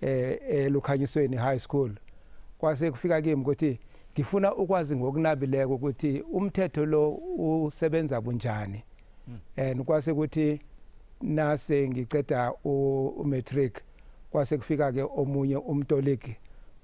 eh eLukhanyisweni High School kwase kufika kimi ukuthi ngifuna ukwazi ngokunabileko ukuthi umthetho lo usebenza kunjani hmm. and kwase ukuthi nase ngiceda umatric kwase kufika ke omunye umtoliki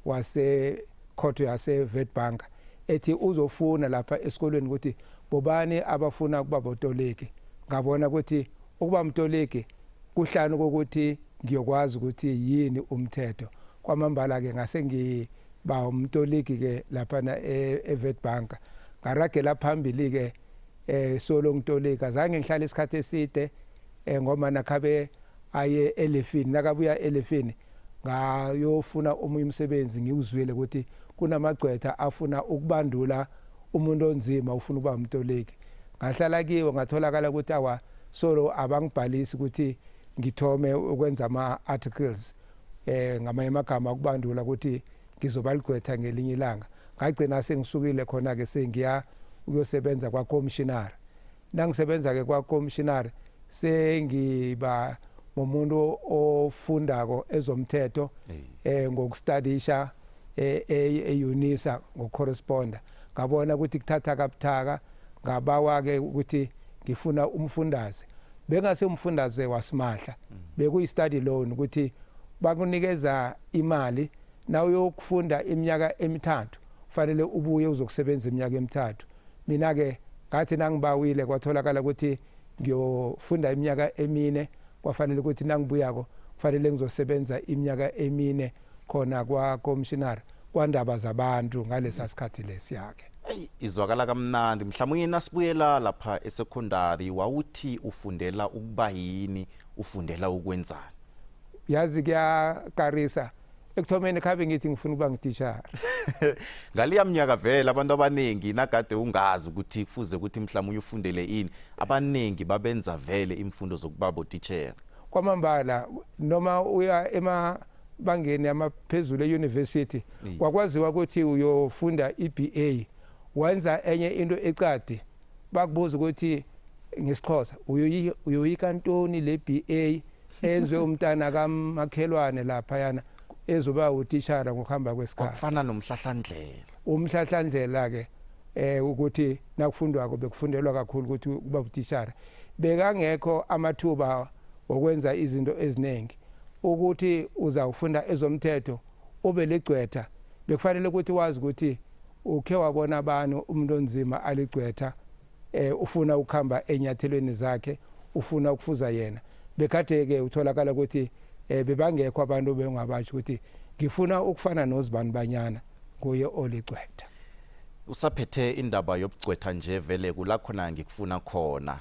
wase khotho yase Witbank ethi uzofuna lapha esikolweni ukuthi bobani abafuna ukuba botoliki ngabona ukuthi ukuba mtoliki Kuhlanu kokuthi ngiyokwazi ukuthi yini umthetho. Kwamambala-ke ngase ngiba umtoligi-ke laphana eWitbank. E Ngaragela phambili-ke um solo ngitolika. Zange ngihlale isikhathi eside um ngoba nakhabe aye elefini. Nakabuya elefini ngayofuna omunye umsebenzi ngiwuzwile ukuthi kunamagcwetha afuna ukubandula umuntu onzima ufuna ukuba umtoliki ngahlala kiwo ngatholakala ukuthi awa solo abangibhalisi ukuthi ngithome ukwenza ama-articles eh ngamanye amagama ukubandula ukuthi ngizobaligqwetha ngelinye ilanga ngagcina sengisukile khona-ke sengiya ukuyosebenza kwakomshinara Nangisebenza-ke kwakomishinari sengiba ngomuntu ofundako ezomthetho eh ngokustadisha eUnisa ngocorresponder ngabona ukuthi kuthatha kabuthaka ngabawa-ke ukuthi ngifuna umfundaze bengase umfundaze wasimahla mm. bekuyi-study loan ukuthi bakunikeza imali na uyokufunda iminyaka emithathu kufanele ubuye uzokusebenza iminyaka emithathu Mina-ke ngathi nangibawile kwatholakala ukuthi ngiyofunda iminyaka emine kwafanele ukuthi nangibuyako kufanele ngizosebenza iminyaka emine khona kwakomishinari kwandaba zabantu ngalesa sikhathi lesiya-ke eyi izwakala kamnandi mhlawumbe nasibuyela lapha esekhondari wawuthi ufundela ukuba yini ufundela ukwenzani yazi kuyakarisa ekuthomeni khabe ngithi ngifuna ukuba ngitishara ngaliya mnyaka vele abantu abaningi nakade ungazi ukuthi kufuze ukuthi mhlawumbe ufundele ini abaningi babenza vele imfundo zokuba botishera kwamambala noma uya ema bangeni amaphezulu e-university kwakwaziwa ukuthi uyofunda i-BA wenza enye into ecadi bakubuza ukuthi ngesixhosa uyoyika ntoni le BA enzwe umntana kamakhelwane lapha yana ezoba utishara ngokuhamba kwesikhathi kufana nomhlahlandlela umhlahlandlela ke eh ukuthi nakufundwako bekufundelwa kakhulu ukuthi kuba utishara bekangekho amathuba okwenza izinto eziningi ukuthi uzawufunda ezomthetho ube ligcwetha bekufanele ukuthi wazi ukuthi Ukhe wabona bani umuntu onzima aligcwetha eh ufuna ukuhamba enyathelweni zakhe ufuna ukufuza yena bekade ke utholakala ukuthi eh bebangekho abantu bengabasho ukuthi ngifuna ukufana nozibani banyana kuye oligcwetha usaphethe indaba yobugcwetha nje vele kula khona ngikufuna khona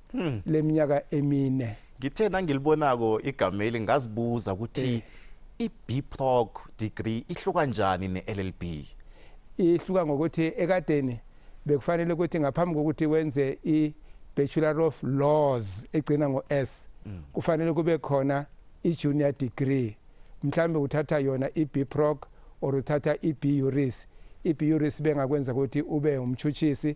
hmm. leminyaka emine ngithe nangilibonako igama eli ngazibuza ukuthi eh. i-bproc degree ihluka njani ne-llb ihluka ngokuthi ekadeni bekufanele ukuthi ngaphambi kokuthi wenze i-bachelor of laws egcina ngo-s mm. kufanele kube khona i-junior degree mhlawumbe uthatha yona i-bproc or uthatha i-buris i-buris bengakwenza ukuthi ube umtshutshisi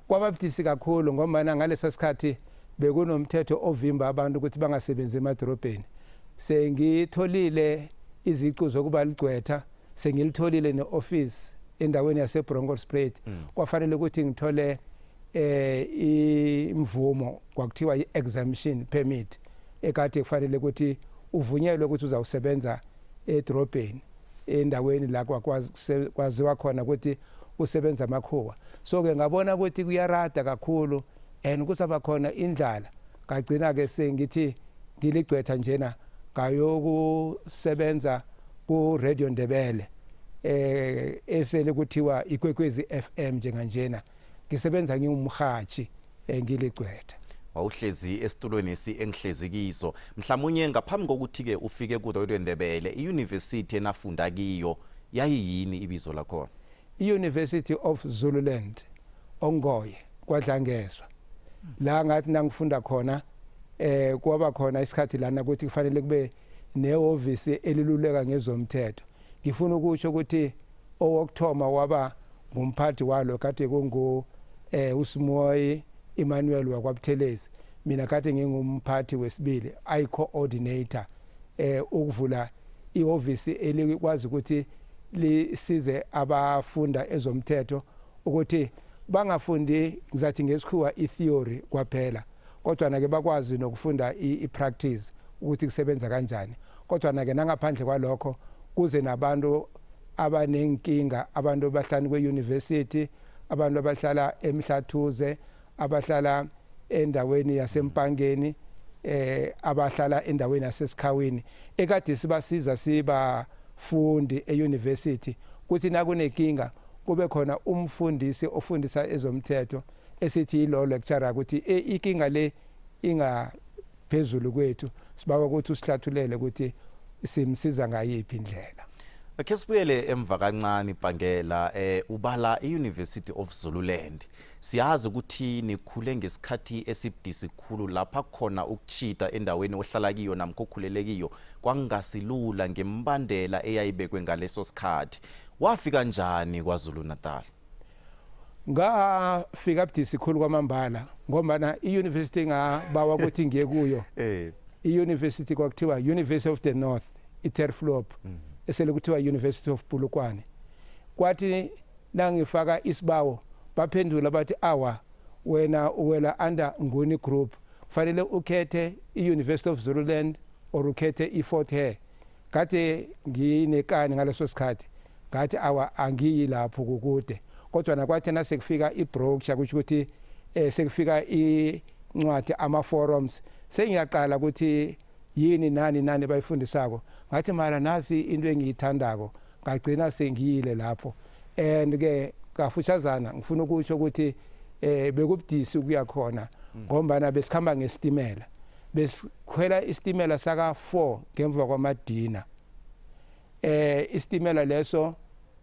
Kwababudisi kakhulu ngombana ngalesa sikhathi bekunomthetho ovimba abantu ukuthi bangasebenzi emadorobheni. Sengitholile iziqu zokuba ligcwetha, sengilitholile ne-office endaweni yaseBronkhorstspruit. Mm. Kwafanele ukuthi ngithole eh imvumo kwakuthiwa i-exemption permit ekade kufanele ukuthi uvunyelwe ukuthi uzawusebenza edorobheni endaweni la kwakwazi kwaziwa khona ukuthi kusebenza amakhuwa so ke ngabona ukuthi kuyarada kakhulu and kusaba khona indlala ngagcina ke sengithi ngiligcwetha njena ngayokusebenza ku Radio Ndebele eh esele kuthiwa ikwekwezi FM njenganjena ngisebenza ngiwumhathi engiligcwetha wawuhlezi esitulweni esi engihlezi kiso mhlawumunye ngaphambi kokuthi-ke ufike kudodo endebele iyunivesithi enafunda kiyo yayiyini ibizo lakhona i-university of zululand ongoye kwadlangezwa la ngathi nangifunda khona eh kwaba khona isikhathi lana ukuthi kufanele kube nehhovisi eliluleka ngezomthetho Ngifuna ukusho ukuthi owokthoma waba ngumphathi walo kade kungu eh uSimoyi Emmanuel wakwaButhelezi mina kade ngingumphathi wesibili i coordinator eh ukuvula ihhovisi elikwazi ukuthi lisize abafunda ezomthetho ukuthi bangafundi ngizathi ngesikhuwa itheory kwaphela kodwa nake bakwazi nokufunda i-practice ukuthi kusebenza kanjani kodwa nake nangaphandle kwalokho kuze nabantu abanenkinga abantu abahlani kwe-university abantu abahlala emhlathuze abahlala endaweni yasempangeni eh abahlala endaweni yasesikhawini ekade sibasiza siba fundi euniversity kuthi nakunenkinga kube khona umfundisi ofundisa ezomthetho esithi law lecturer ukuthi e, ikinga le ingaphezulu kwethu sibawa ukuthi usihlathulele ukuthi simsiza ngayiphi indlela Akhe sibuyele emva kancane ibhangela eh ubala eUniversity of Zululand. Siyazi ukuthi nikhule ngesikhathi esibudisi khulu lapha khona ukuchita endaweni ohlala kiyo namkhokhulele kiyo kwangasilula ngembandela eyayibekwe ngaleso sikhathi. Wafika kanjani kwaZulu Natal? ngafika budisi khulu kwamambala ngombana i-university engabawa ukuthi ngiye kuyo eh. i-university kwakuthiwa university of the north iterflop mm. esele kuthiwa university of bulukwane kwathi nangifaka isibawo baphendula bathi awa wena uwela under nguni group kufanele ukhethe i-university of zululand or ukhethe i-fort hare Kade nginekani ngaleso sikhathi ngathi awa angiyi lapho kukude kodwa nakwathi nasekufika i-brochure kusho ukuthi eh sekufika incwadi ama forums sengiyaqala ukuthi yini nani nani bayifundisako ngathi mara nasi into engiyithandako ngagcina sengiyile lapho and ke kafushazana ngifuna ukusho ukuthi eh bekubudisi ukuya khona mm. ngombana besikhamba ngesitimela besikhwela isitimela saka-4 ngemva kwamadina eh isitimela leso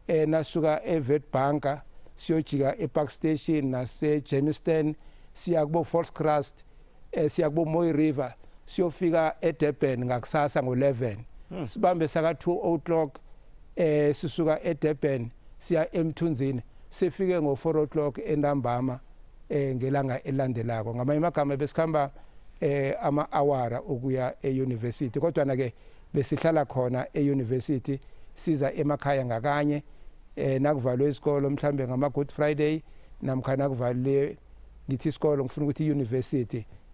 eh nasuka eWitbanka siyojika ePark Station naseJermiston siya kubo Volkskrust eh siya kubo Mooi River siyofika eDurban ngakusasa ngo11 hmm. sibambe saka 2 o'clock eh sisuka eDurban siya eMthunzini sifike ngo 4 o'clock entambama eh ngelanga elandelako ngamanye amagama besikhamba eh ama-awara ukuya e-university kodwana ke besihlala khona e-university siza emakhaya ngakanye eh nakuvalwe isikolo mhlambe ngama-good friday namkhana kuvalwe ngithi isikolo ngifuna ukuthi i-university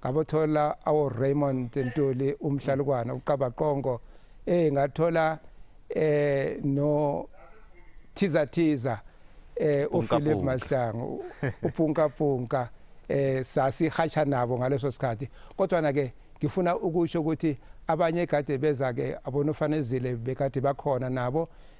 ngabothola awo-raymond ntuli umhlalukwana uqabaqongo eh ngathola eh no thiza thiza eh uphilip mahlangu upunka punka eh sasi hasha nabo ngaleso sikhathi kodwa na ke ngifuna ukusho ukuthi abanye kade beza ke abonofanezile bekade bakhona nabo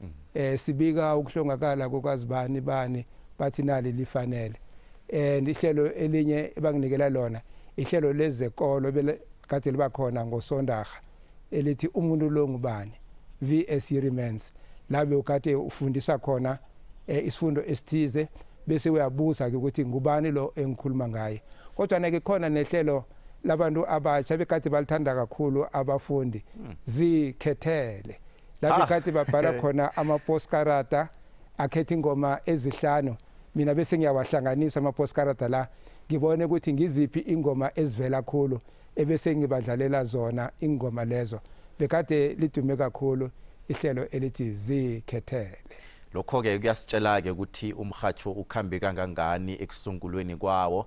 mm. eh sibika ukuhlongakala kokazibani bani bathi nali lifanele and ihlelo elinye ebanginikela lona ihlelo lezekolo kade liba khona ngosondaga elithi umuntu lo ngubani VS Remains labe ukade ufundisa khona eh, isifundo esithize bese uyabuza ke ukuthi ngubani lo engikhuluma ngaye kodwa nake khona nehlelo labantu abatsha bekade balithanda kakhulu abafundi hmm. zikhethele lapho kade babhala khona amaposkarata akhetha ingoma ezihlanu mina bese ngiyawahlanganisa amaposkarata la ngibone ukuthi ngiziphi ingoma ezivela khulu ebese ngibadlalela zona ingoma lezo bekade lidume kakhulu ihlelo elithi zikhethele lokho-ke kuyasitshela-ke ukuthi umhatsho ukhambe kangangani ekusungulweni kwawo